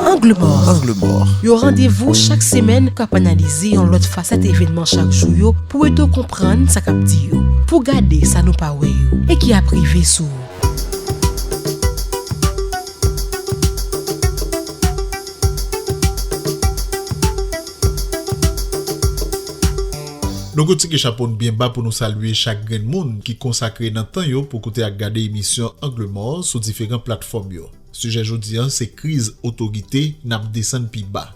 Angle mò, yon randevou chak semèn k ap analize yon lòt fasèt evènman chak jou yo pou ede w konprann sa k ap di yo, pou w gade sa nou pa wè yo e ki ap rive sou ou. Nou kou tike chapo n byen ba pou nou salye chak grenn moun ki konsakre nan tan yo pou koute ak gade emisyon Angle mò sou diferan platfòm yo. Sijè jodi an se kriz otorite n ap desann pi ba.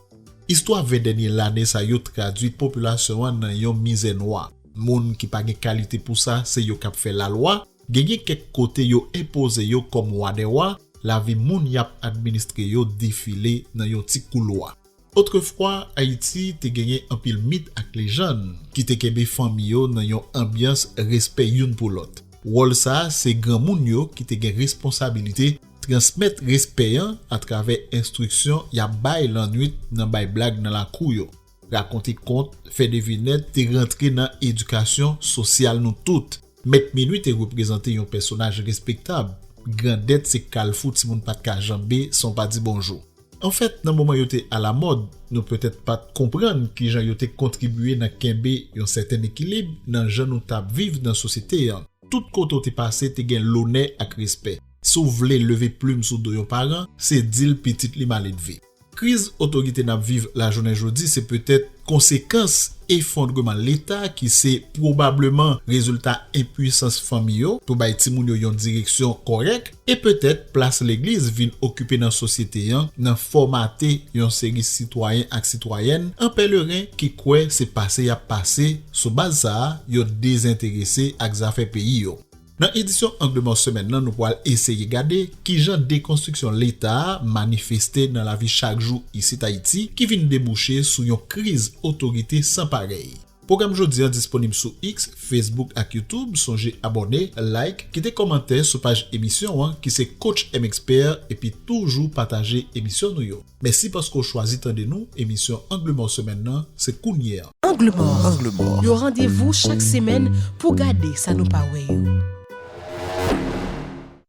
Istwa 20 dènye lane sa yo tradui popilasyon an nan yon mizè nwa. Moun ki pa gen kalite pou sa se yo k ap fè lalwa, genyen kèk kote yo enpoze yo kòm wadèwa, lavi moun y ap administre yo defile nan yon ti koulwa. Otrefwa, Ayiti te genyen anpil mit ak lejann ki te kenbe fanmi yo nan yon anbyans respè youn pou lòt. Wòl sa a se granmoun yo ki te gen responsabilite transmèt respè an atravè enstriksyon y ap bay lannwit nan bay blag nan lakou yo. Rakonte kont, fè devinèt te rantre nan edikasyon sosyal nou tout. Mèt minui te reprezante yon pèsonaj respektab, grandèt se kalfou timoun pa t ka janbe san w pa di bonjou. Anfèt, nan moman yo te alamòd, nou petèt pa t konprann ki jan yo te kontribye nan kenbe yon sèten ekilib nan jan nou t ap viv nan sosyete an. Tout kote w te pase te gen lonè ak respè. Si w vle leve plim sou do yon paran, se di l pitit li maledve. Kriz otorite n ap viv lajounen jodi se petèt konsekans efondreman Leta ki se pwobableman rezilta enpuisans fanmi yo pou bay timoun yo yon direksyon kòrèk. E petèt plas legliz vin okipe nan sosyete an nan fòmate yon seri sitwayen ak sitwayèn an pèleren ki kwè se pase y ap pase, sou baz sa a yo dezenterese ak zafè peyi yo. Nan edisyon Angle Mò semèn nan nou pwal eseye gade kijan dekonstriksyon Leta a manifeste nan lavi chak jou isit Ayiti ki vin debouche sou yon kriz otorite san parèy. Pwogram jodi an disponib sou X, Facebook ak YouTube, sonje abòne, like, kite kòmantè sou paj emisyon an ki se CoachMXpert epi toujou pataje emisyon nou yo. Mèsi paske w chwazi tande nou, emisyon Angle Mò semèn nan se kounye a. Angle Mò, yon randevou chak semèn pou w gade sa nou pa wè yo.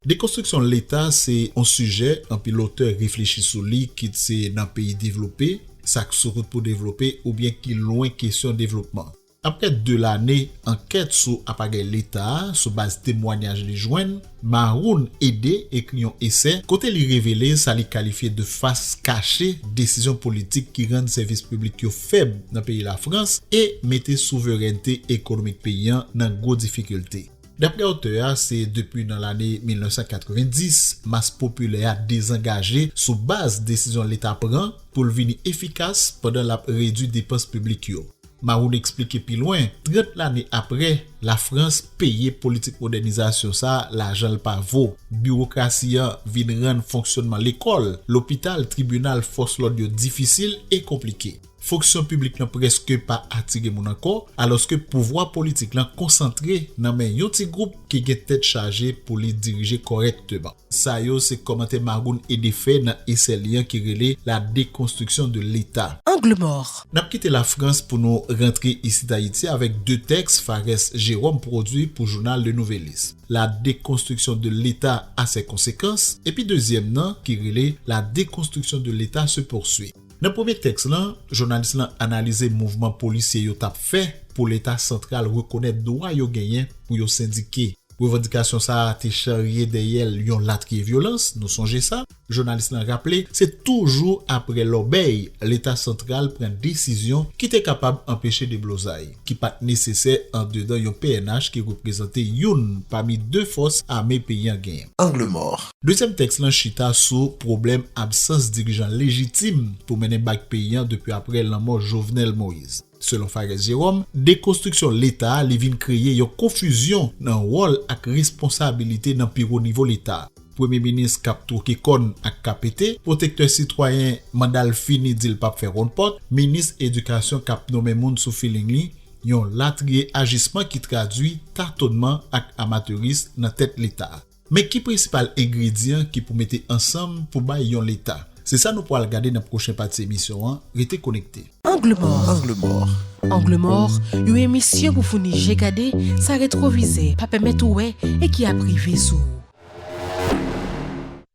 Dekonstriksyon Leta se on sijè anpil otè reflechi sou li kit se nan peyi devlope, sa k sou wout pou devlope oubyen ki lwen kesyon devlopman. Aprè 2 lane ankèt sou apagèy Leta, sou baz temwanyaj li jwenn, Maroun Ede ekri yon esè kote li revele sa li kalifye de fas kache desizyon politik ki rann sèvis piblik yo fèb nan peyi Lafrans e mete souverènte ekonomik peyi an nan gwo difikilte. Daprè otè a, se depi nan lane 1990 mas popilè a dezangaje sou baz desizyon Leta pran pou l vini efikas pandan l ap redui depans piblik yo. Maroun eksplike pi lwen, 30 lane aprè, Lafrans peye politik modènizasyon sa lajan l pa vo. Biwokrasi an vin rann fonksyònman lekòl, lopital, tribinal, fòs lòd yo difisil e konplike. Fonksyon piblik lan prèske pa atire moun ankò, alòske pouvwa politik lan konsantre nan men yon ti gwoup ki gen tèt chaje pou li dirije kòrèkteman. Sa yo se kòmantè Magoun ede fè nan esè li an ki rele La déconstruction de l'État. Angle mort. N ap kite Lafrans pou nou rantre isit Ayiti avèk de tèks Pharès Jérôme pwodui pou jounal Le Nouvelliste, La déconstruction de l'État a ses conséquences, epi dezyèm nan ki rele La déconstruction de l'État se poursuit. Nan premye tèks lan, jounalis lan analize mouvman polisye yo t ap fè pou Leta santral rekonèt dwa yo genyen pou yo sendike. Revandikasyon sa a te charye dèyè l yon latriye vyolans, nou sonje sa. Jounalis lan raple se toujou aprè lòbèy Leta santral pran desizyon ki te kapab anpeche deblozay, ki pa t nesesè andedan yon pnh ki reprezante youn pami de fòs ame peyi an gen. Angle mò, Dezyèm tèks lan chita sou pwoblèm absans dirijan lejitim pou mennen bak peyi an depi aprè lanmò Jovenel Moise. Selon Phares Jérôme, dekonstriksyon Leta a li vin kreye yon konfizyon nan wòl ak responsabilite nan pi wo nivo Leta, Premye Minis k ap twoke kòn ak KPT, Pwotektè Sitwayen manda l fini di l p ap fè wonn pòt, Minis Edikasyon k ap nonmen moun sou filing li, yon latriye ajisman ki tradui tatonman ak amateurism nan tèt Leta. Men ki prensipal engredyan ki pou mete ansanm pou bay yon Leta? Se sa nou pwal gade nan pwochen pati emisyon an, rete konekte. Angle mòr Angle mòr Angle mòr, yon emisyon pou founi je gade sa retwovizè pa pèmèt ou wè e ki ap rive sou ou.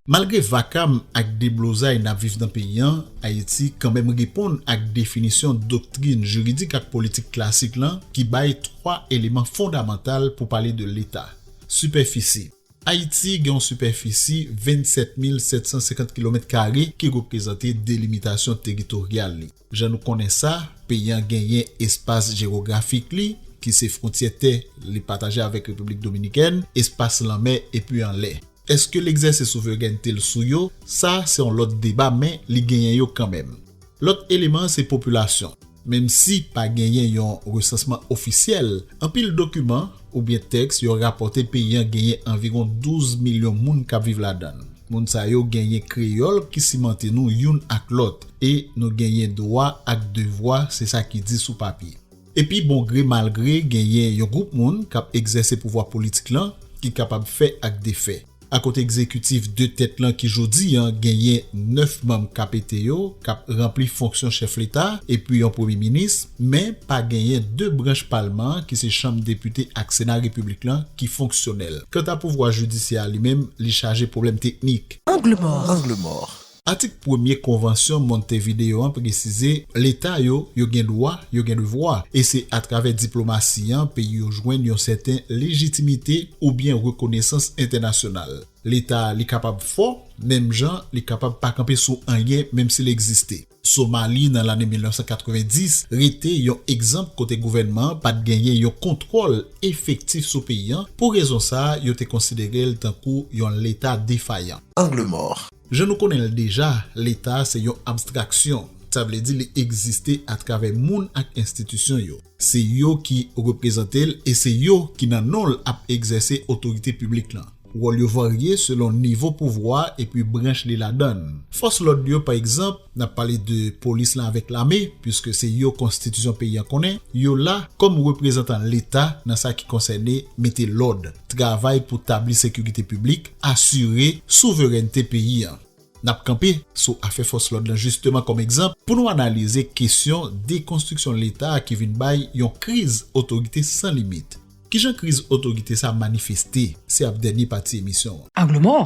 Malgre vakam ak deblozay n ap viv nan peyi an, Ayiti kanmenm reponn ak definisyon doktrin jiridik ak politik klasik lan ki bay twa eleman fondamantal pou pale de Leta. Sipèfisi. Ayiti gen yon sipèfisi 27750 kilomèt kare ki reprezante delimitasyon teritoryal li. Jan nou konnen sa, peyi an genyen espas jewografik li, ki se fwontyè tè li pataje avèk Repiblik Dominikèn, espas lanmè epi anlè. Èske l egzèse souverènte l sou yo? Sa se yon lòt deba men li genyen yo kanmenm. Lòt eleman se popilasyon. Menm si pa genyen yon resansman ofisyèl, anpil dokiman oubyen tèks yo rapòte peyi an genyen anviwon 12 milyon moun k ap viv ladan l. Moun sa yo genyen kreyòl ki simante nou youn ak lòt e nou genyen dwa ak devwa se sa ki di sou papye. Epi bon gre mal gre genyen yon gwoup moun k ap egzèse pouvwa politik lan ki kapab fè ak defè. ak kote egzekitif 2 tèt lan ki jodi an genyen 9 manm KPT yo k ap ranpli fonksyon chèf leta epi yon premye minis, men pa genyen 2 branch palman an ki se chanm depite ak sena repiblik lan ki fonksyonèl. Kanta pouvwa jidisyè a li menm li chaje pwoblèm teknik. Angle mò! Atik premye Konvansyon Montevideo an presize Leta yo, yo gen dwa, yo gen devwa, e se atravè diplomasi an peyi yo jwenn yon sèten lejitimite oubyen rekonesans entènasyonal. Leta li kapab fò, menm jan li kapab pa kanpe sou anyen menm si l egziste. Somali nan lane 1990 rete yon egzanp kote gouvènman an pat genyen yon kontwòl efektif sou peyi an, pou rezon sa yo te konsidere l tankou yon Leta defayan. Angle mò. Jan nou konnen l deja, Leta a se yon abstraksyon, sa vle di li egziste atravè moun ak enstitisyon yo. Se yo ki reprezante l e se yo ki nan non l ap egzèse otorite piblik lan. Wòl yo varye selon nivo pouvwa epi branch li ladan l. Fòs lòd yo, pa egzanp, Nap pale de polis lan avèk lame puiske se yo konstitisyon peyi an konnen yo la kòm reprezantan leta nan sa ki konsène mete lòd, travay pou tabli sekirite piblik, asire souverènte peyi an. Nap kanpe sou afè fòs lòd lan jisteman kòm egzanp pou nou analize kesyon dekonstriksyon leta ki vin bay yon kriz otorite san limit. Kijan kriz otorite sa manifeste? Se ap dènye pati emisyon an. Angle mò,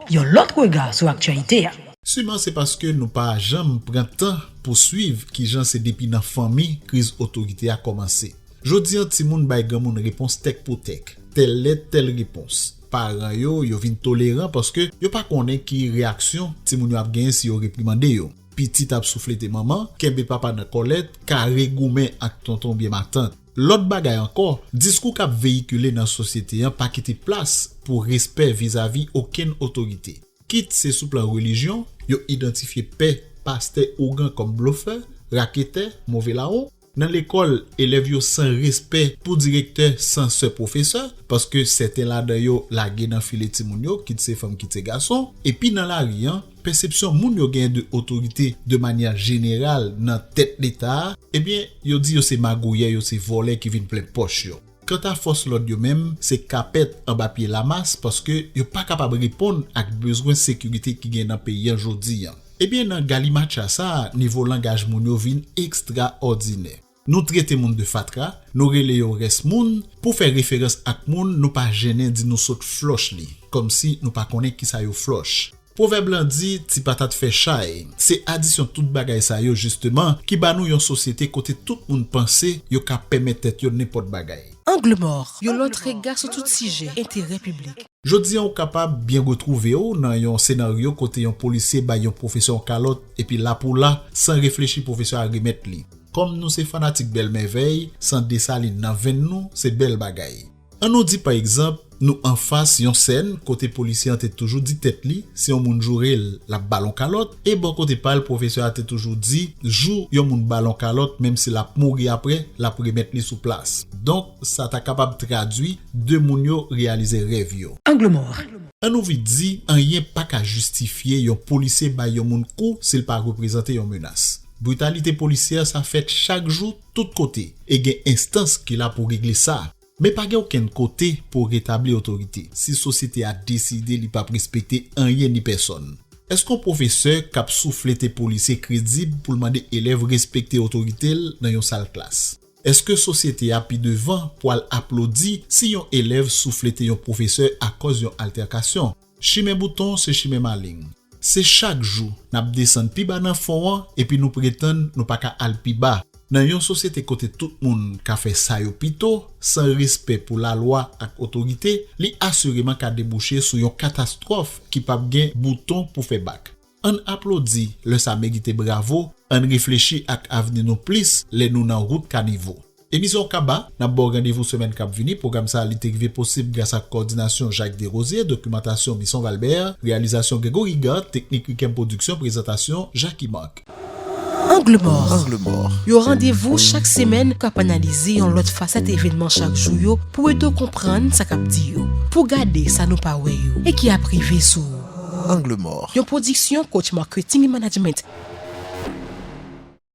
yon lòt rega sou aktyalite a. Siman se paske nou pa janm pran tan pou swiv kijan se depi nan fanmi kriz otorite a kòmanse. Jodi an timoun bay granmoun repons tèk pou tèk, tèl lèt tèl repons. Paran yo, yo vin toleran paske yo pa konnen ki reyaksyon timoun yo ap genyen si yo reprimande yo. Pitit ap souflete manman, kenbe papa nan kòlèt, kare goumen ak tonton oubyen matant. Lòt bagay ankò, diskou k ap veyikile nan sosyete an pa kite plas pou respè vizavi okenn otorite. Kit se sou plan relijyon, yo idantifye pè, pastè, ougan kòm blofè, raketè, move lawon. Nan lekòl, elèv yo san respè pou direktè, sansè, pwofesè, paske sèten ladan yo lage nan file timoun yo, kit se fanm kit se gason. Epi nan lari an. Pèsepsyon moun yo gen de otorite de manyè jeneral nan tèt leta a, ebyen yo di yo se magouyè, yo se vòlè ki vin plen pòch yo. Kanta fòs lòd yo menm, se kapèt anba pye lamas paske yo pa kapab reponn ak bezwen sekirite ki gen nan peyi an jodi an. Ebyen nan galimatcha sa a nivo langaj moun yo vin ekstraòdinè. Nou trete moun de fatra, nou rele yo rès moun, pou fè referans ak moun nou pa jennen di nou sot flòch li, kòmsi nou pa konnen kisa yo flòch. Pwovèb lan di ti patat fè chay, se adisyon tout bagay sa yo jisteman ki ba nou yon sosyete kote tout moun panse yo ka pèmèt tèt yo nenpòt bagay. Angle mò, yon lòt rega sou tout sijè enterè piblik. Jodi an ou kapab byen retwouve w nan yon senaryo kote yon polisye bay yon pwofesè yon kalòt epi la pou la, san reflechi pwofesè a remèt li. Kòm nou se fanatik bèl mèvèy, san Desalin nan venn nou, se bèl bagay. An nou di pa egzanp, nou anfas yon sèn kote polisye an te toujou di tèt li, si yon moun joure l, l ap ba l yon kalòt, e bò kote pa l pwofesè a te toujou di, jou yon moun ba l yon kalòt, menm si l ap mouri aprè, l ap remèt li sou plas. Donk. Sa ta kapab tradwi, De moun yo reyalize rèv yo. Angle mò. An nou vit di, anyen pa ka jistifye yon polisye bay yon moun kou si l pa reprezante yon menas. Britalite polisyè sa fèt chak jou, tout kote, e gen enstans ki la pou regle sa. Men pa gen okenn kote pou retabli otorite, si sosyete a deside li pap respekte anyen ni pèsòn. Èske yon pwofesè k ap souflete polisye kredib pou l mande elèv respekte otorite l nan yon sal klas? Èske sosyete a pi devan pwal aplodi si yon elèv souflete yon pwofesè akòz yon altèkasyon? Chimen bouton se chimen maleng. Se chak jou n ap desann pi ba nan fon an epi nou pretann nou pa ka al pi ba. Nan yon sosyete kote tout moun ka fè sa yo pito, san respè pou lalwa ak otorite, li asireman ka debouche sou yon katastwòf ki p ap gen bouton pou fè bak. Ann aplodi lè sa merite bravo ann reflechi ak avni nou plis lè nou nan wout kanivo. Emisyon Kaba, nap baw randevou semèn kap vini, pwogram sa li te rive posib gras ak kòdinasyon Jacques Derosier, dokimantasyon Misson Valbert, reyalizasyon Gregory Gant, teknik Riquem Production, prezantasyon Jacky Marc. Angle Mòr, yon randevou chak semèn kap analize yon lòt fasèt evènman chak jou yo pou ede w konprann sa kap di yo, pou w gade sa nou pa wè yo e ki ap rive sou ou. Angle mort. Yon pwodiksyon Coach Marketing et Management.